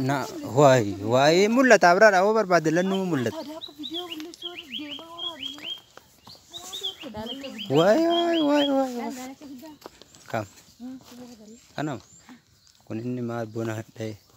Na waay waay mul'ata biraadha hoo barbaadde lannuu mul'ata. Waay waay waay waay. Kam. Kanam. Kun inni maal bona hadha'e.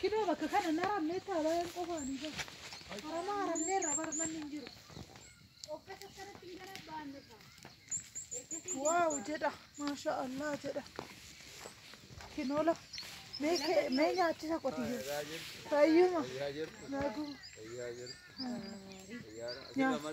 Kidoo bakka kana na ramnee taa baay'een qofaanii bar. Harama haramnee irra bar manni hin jiru. Qopheessa akkanatti hin gara baanne kaa. Ergasii Waaw jedha maasha Allah jedha. Kinoola mee kee mee nyaachisa qotiyyoo. Fayyuma. Naguma. Nyaata.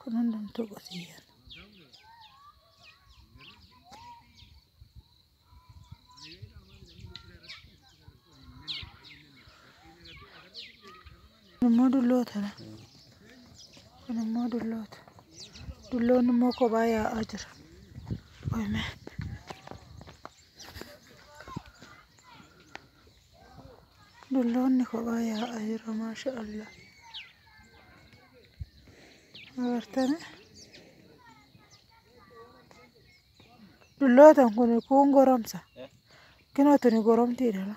Kun hundumtuu qotiyyaan. Kun immoo dulloota dha. Kun immoo dulloota. Dulloonni immoo kophaa yaa'aa jira. Qoyme. Dulloonni kophaa yaa'a jira maasha Allah. Agartani? Dullootan kun kuun goromsa. Kinoo tuni goromtiidha.